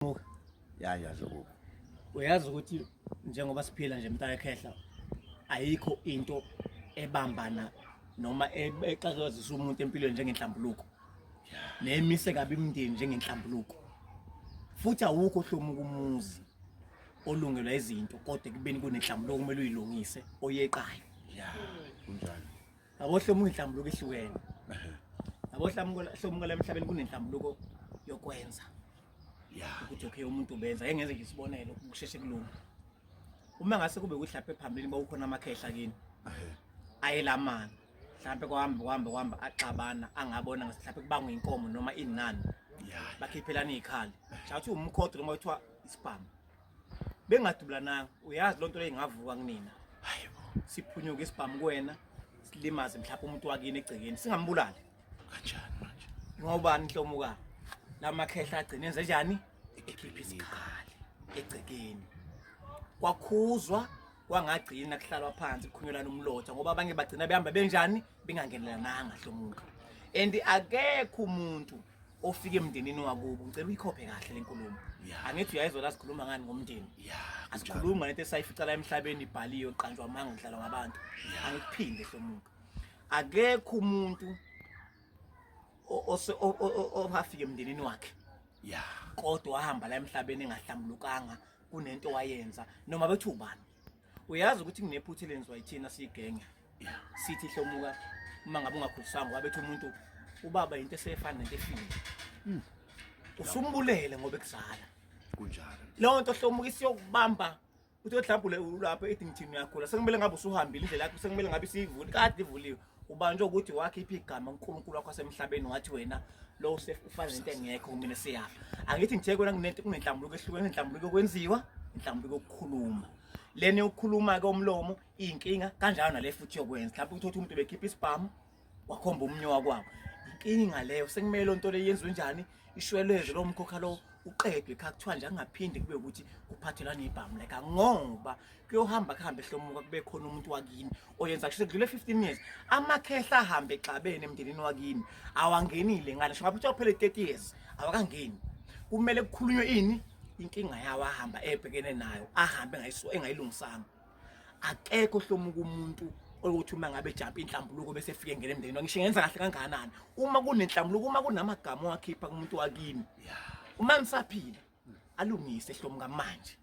Muka. Ya ya zokuba. Uyazi ukuthi njengoba siphila nje mntaka ekhehla ayikho into ebambana noma e-, exakezisa umuntu empilweni njengenhlambuluko. Nemise kabi imndeni njengenhlambuluko. Futhi awukho hlomu kumuzi olungelwa izinto kodwa kubeni kunenhlambuluko kumele uyilungise oyeqayo. Ya. Kunjalo. Abohlomu inhlambuluko ehlukene. Abohlomu hlomu kwala emhlabeni kunenhlambuluko yokwenza. yeah ukuthi okay umuntu ubenza engenze nje isibonelo ukusheshe kulunga uma ngase kube ukuthi lapha phambili bawukhona amakhehla kini ayelamana mhlawumbe kwahamba kwahamba kwahamba axabana angabona ngathi mhlawumbe kubangwa inkomo noma inani bakhiphelana izikhali shawuthi umkhodo noma kuthiwa isibhamu bengadubulananga uyazi loo nto leyo ingavuka kunina siphunyuke isibhamu kuwena silimaze mhlawumbe umuntu wakini egcekeni singambulali kanjani manje ngobani nhlomuka lamakhehla agcine enze njani ekhipha isikhali egcekeni kwakhuzwa kwangagcina kuhlalwa phansi kukhunyelana umlotha ngoba abanye bagcina behamba benjani bengangenelananga hlomuka and akekho umuntu ofike emndenini wakubo ngicela uyikhophe kahle lenkulumo angithi uyayizwa la sikhuluma ngani ngomndeni asikhuluma ngento esayificala emhlabeni ibhaliwe qanjwa amanga ngidlalwa ngabantu angikuphinde hlomuka akekho umuntu owafika emndenini wakhe ya kodwa wahamba la emhlabeni engahlambulukanga kunento wayenza noma bethi ubani uyazi ukuthi kunephutha elenziwa yithina siyigenge sithi hlomuka uma ngabe ungakhulisanga wabethi umuntu ubaba into esefana nento efile hmm. usumbulele ngoba ekuzala kunjalo leyo nto hlomuka isiyokubamba uthi odlabhule ulapho ethi ngithini uyagula sekumele ngabe usuhambile indlela yakho sekumele ngabe isiyivuli kade ivuliwe ubanjwe ukuthi wakhipha igama uNkulunkulu wakho asemhlabeni wathi wena lo ufana nento engekho kumina siyapha angithi ngithe kwena kunento kunenhlambuluko ehlukene nenhlambuluko kwenziwa inhlambuluko yokukhuluma lena yokukhuluma ke umlomo inkinga kanjalo nale futhi yokwenza mhlawumbe uthi umuntu bekhipha isibhamu wakhomba umnye wakwabo inkinga leyo sekumele onto le yenziwe njani ishweleze lo mkhokha lo uqedwe kha kuthiwa nje angaphinde kube ukuthi kuphathelwa nebhamu leka ngoba kuyohamba kuhambe hlomuka kube khona umuntu wakini oyenza kusho kudlule 15 years amakhehla ahambe exabene emndenini wakini awangenile ngale ngisho ngabe uphele 30 years awakangeni kumele kukhulunywe ini inkinga yawo ahamba ebhekene nayo ahambe engayilungisanga akekho ohlomuka umuntu ukuthi uma ngabe ejampa inhlambuluko bese efike ngene emndenini wakhe ngisho ngenza kahle kangakanani uma kunenhlambuluko uma kunamagama owakhipha kumuntu wakini uma nisaphila alungise ehlomuka manje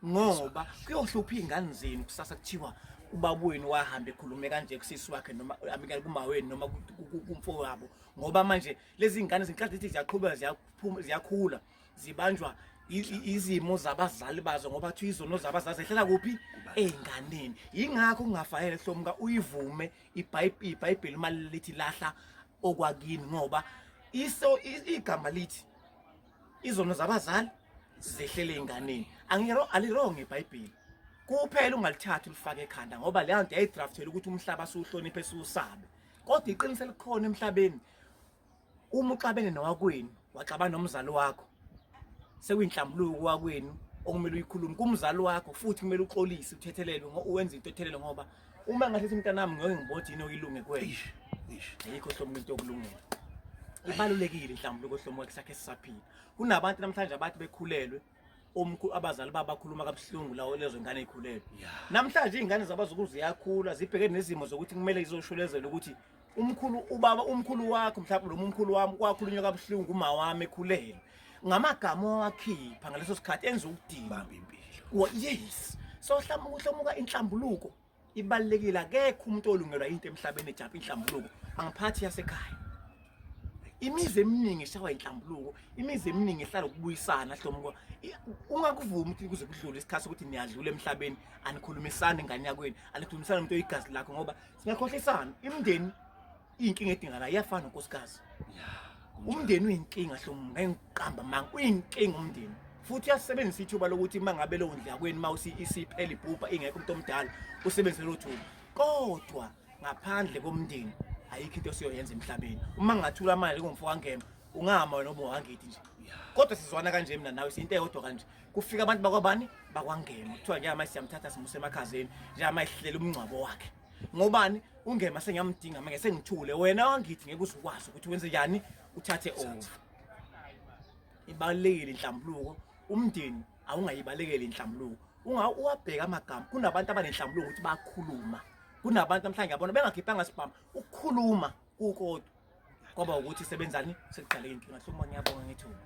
ngoba kuyohlupha iy'ngane zenu kusasa kuthiwa ubaba wenu wahambe ekhulume kanje kusisi wakhe noma amikani kumawenu noma kumfo wabo ngoba manje lezi ngane zinkathi zithi ziyaqhubeka ziyaphuma ziyakhula zibanjwa izimo zabazali bazo ngoba kuthiwa izono zabazali zehlela kuphi ey'nganeni yingakho kungafanele hlomuka uyivume ibhayibheli uma lithi lahla okwakini ngoba iso igama lithi izono zabazali zehlele ey'nganeni alironge ibhayibheli kuphela ungalithatha ulifake ekhanda ngoba leyo nto yayidrafthelwa ukuthi umhlaba siwuhloniphe siwusabe kodwa iqiniso elikhona emhlabeni uma uxabene nowakwenu waxabana nomzali wakho sekuyinhlambuluko kowakwenu okumele uyikhulume kumzali wakho futhi kumele uxolise uthethelelwe uwenze into ethelele ngoba uma ngathetha umntanami ngeke ngibothe yini okuyilunge kwenu ayikho hlobo into yokulungela ibalulekile inhlambuluko hlomo sakhe sisaphila kunabantu namhlanje abathi bekhulelwe umkhulu abazali babo bakhuluma kabuhlungu lawo lezo ngane ikhulele namhlanje izingane zabazukulu ziyakhula zibheke nezimo zokuthi kumele izoshulezelwe ukuthi umkhulu ubaba umkhulu wakho mhlawumbe lo mkhulu wami kwakhulunywa kabuhlungu uma wami ekhulele ngamagama owakhipha ngaleso sikhathi enza ukudinga bambi impilo yes so hlamuka inhlambuluko ibalekile akekho umuntu olungelwa into emhlabeni ejapha inhlambuluko angiphathi yasekhaya imizi eminingi eshawa inhlambuluko imizi eminingi ehlala ukubuyisana hlomuko ungakuvumi ukuthi kuze kudlule isikhathi sokuthi niyadlula emhlabeni anikhulumisani ngane yakweni anikhulumisani umuntu oyigazi lakho ngoba singakhohlisana imndeni Inkinga edingana iyafana unkosikazi. Umndeni uyinkinga hlomu ngengiqamba manga uyinkinga umndeni. Futhi uyasebenzisa ithuba lokuthi uma ngabe leyo ndlela kweni uma usi isiphela ibhubha ingekho umuntu omdala usebenzise lo thuba. Kodwa ngaphandle komndeni ayikho into esiyoyenza emhlabeni. Uma ngingathula amali ngomfo wangema ungahamba wena obo wangidi nje. Kodwa sizwana kanje mina nawe siyinto eyodwa kanje. Kufika abantu bakwabani bakwangema. Kuthiwa njengamanje siyamthatha simuse emakhazeni njengamanje sihlela umngcwabo wakhe. ngobani ungema sengiyamdinga manje sengithule wena wangithi ngeke uzukwazi ukuthi wenze njani uthathe over ibalekile inhlambuluko umndeni awungayibalekeli inhlambuluko unga uwabheka amagama kunabantu abanenhlambuluko ukuthi bakhuluma kunabantu namhlanje yabona bengakhiphanga sibhama ukukhuluma kukodwa kwaba ukuthi sebenzani sekuqaleke inkinga hluma ngiyabonga ngithuba